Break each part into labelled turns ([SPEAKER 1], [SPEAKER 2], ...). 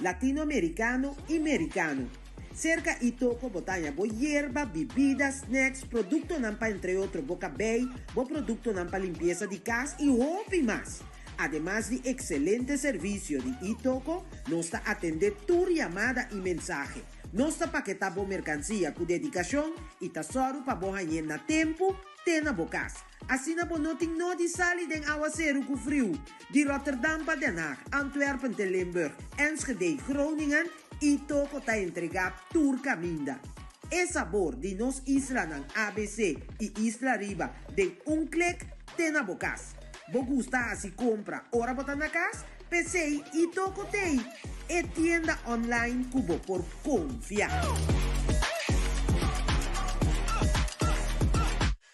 [SPEAKER 1] Latinoamericano y Mericano. Cerca y toco bo taña bo yerba, bibida, snacks, productonan pa entre otro bo cabey, bo productonan pa limpieza di cas y hopi mas. Ademas di excelente servicio di y toco, nos ta atende tur yamada y mensahe. Nos ta paketa bo mercancia cu dedicacion y ta sòru pa bo hañ'e na tempu te na bo cas. Asina bo no tin nodi sali den awaseru ku friu di Rotterdam pa Den Haag, Antwerpen te Limburg, Enschede, Groningen i toko ta entregá tur kaminda. E sabor di nos islanan abc i isla riba den un klik te na bo kas. Bo gusta hasi kompra ora bo ta na kas? P'esei i toko tei e tienda online ku bo por konfia.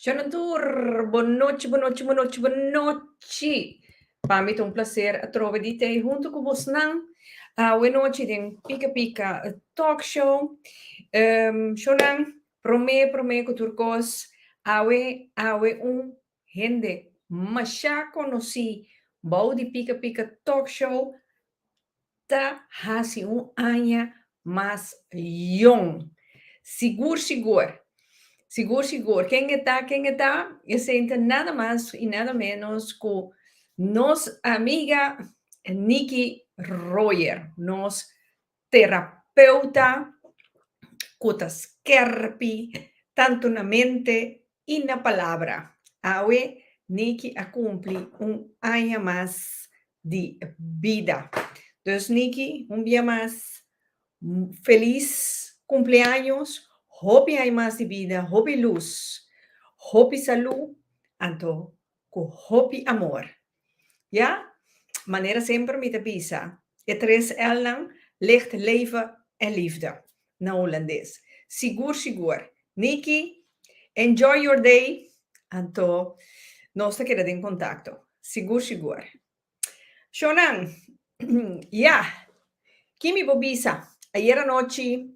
[SPEAKER 1] Shannon tur, Bo nochi, bo nochi, bo nochi, bo nochi! Pa mi ta un placer atrobe di t'ei hunto cu bosnan awe nochi den Pika Pika Talk Show. Shonan, prome, prome cu tur cos, awe, awe un Hende mashá konosí bou di Pika Pika Talk Show ta hasi un aña mas yon. Sigur sigur, sigur sigur, ken e ta, ken e ta? Esente nada mas i nada ménos ku nos amiga Niki Rojer, nos Terapeuta cu ta skerpi tanto na mente y na palabra, awe Nicky a cumpli un aña mas di bida. Dus Nicky, un bia mas feliz cumpleaños, hopi aña mas di bida, hopi luz, hopi salud, anto Cu hopi amor. Ya, manera semper mi ta bisa, e tres L'nan, Licht, Leven en Liefde, na Holandes. Sigur, sigur. Nicky, enjoy your day! Anto, nos ta keda den contacto. Sigur, sigur. Shonan, Ya! Kimi bo bisa? Ayer anochi,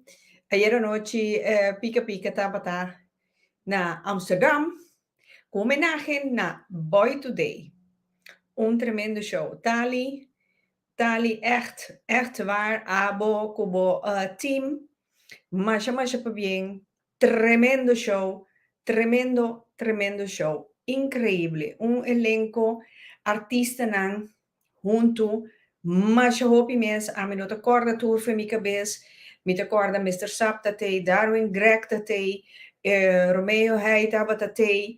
[SPEAKER 1] ayer anochi Pika Pika tabata na Amsterdam cu homenahe na Boy Today. Un tremendo show. Tali, tali echt, echt waar abo cu bo team masha masha pabien Tremendo show, tremendo tremendo show, increíble, un elenco artistanan hunto, masha hopi mens, ami no ta corda tur fe mi cabez, mi ta corda Mister Sap ta tey, Darwin Grech ta tey, Romeo Hey tabata tey,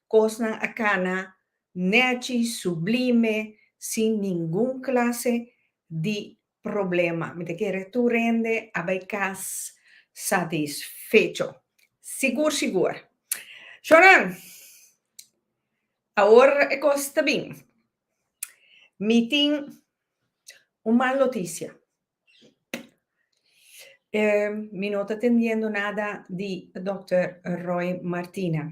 [SPEAKER 1] Kosnan a kana nechi, sublime, sin ningun klase di problema. Mi ta kere tur hende a bai kas satisfecho. Sigur sigur. Shornan, awor e kos ta bin. Mi tin un mal notisia. Mi no ta tendiendo nada di Dòkter Roy Martina.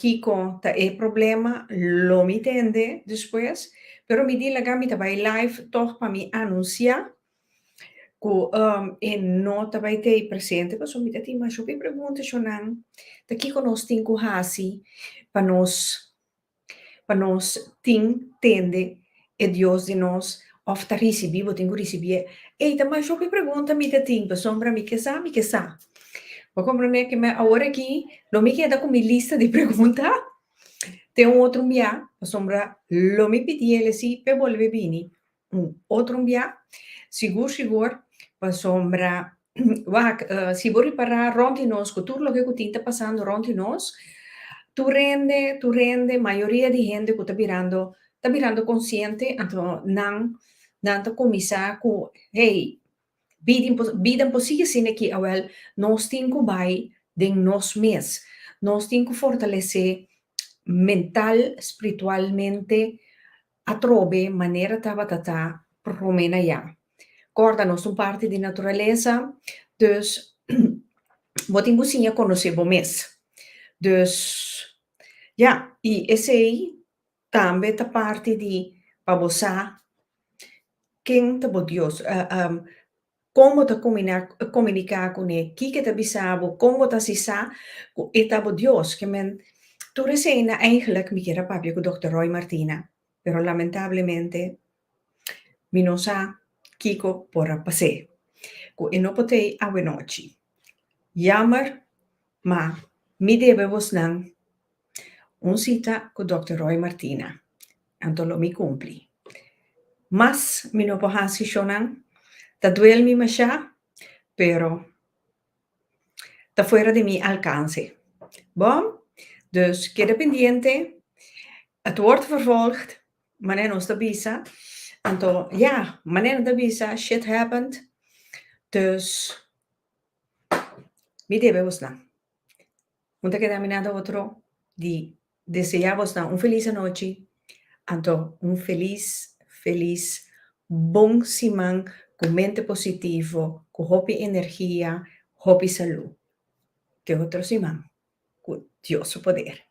[SPEAKER 1] Kiko ta e problema? Lo mi tende despues, pero mi di laga mi ta bai live tog pa mi anuncia cu e no ta bai tei presente pasobra mi ta tin masho di preguntacionan ta kiko nos tin cu haci pa nos pa nos tin tende e Dios di nos of ta ricibi, bo tin cu ricibié. Ey ta mas hopi pregunta mi ta tin pasobra mi ke sa, mi ke sa. Bo comprende ke me awor aki lo mi keda cu mi lista di pregunta te un otro bia pasobra lo mi pidi el e si pe bolbe bini. Un otro mbia, sigur sigur, pasobra wak, si bo ripará rònt di nos ku tur loke ku tin ta pasando rònt di nos, tur hende, tur hende, mayoria di hende ku ta birando, ta birando konsiente, anto nan, nan ta kuminsá ku, hey, bidi, bida por sigui asin de aki awèl, nos tin ku bai den nos mes, nos tin ku fortalesé mental, spritualmente, Atrobe manera tabata ta prome na ya. Corda nos ta un parti di naturalesa, dus bo tin cu siña conoce bo mes. Dus, ya, y esey tambe ta parti di pa bo sa ken ta bo Dios. Kon bo ta komuniká kuné? Kiko ta bisa bo? Kon bo ta si sa ku e ta bo Dios? Ke men, Tur esena, Eigenlijk, mi kier a papia ku Dòkter Roy Martina, pero lamentablemente mi no sa kiko por a pas'é ku e no pot'é awe nochi. Yammer. Ma mi debe bosnan un sita cu Dòkter Roy Martina, anto lo mi cumpli. Mas mi no por haci shonan, ta duel mi mashá, pero ta fuera di mi alcance. Bo? Dus keda pendiente, het wordt vervolgd, manera nos ta bisa. Anto, ja, manera nos ta bisa, shit happened. Dus, Mi debe bosnan. Un ta keda aminá na otro di deseá bosnan un felis anochi anto un felis felis bon siman ku mente positivo, ku hopi energia, hopi salú. Te otro siman ku Dios su poder.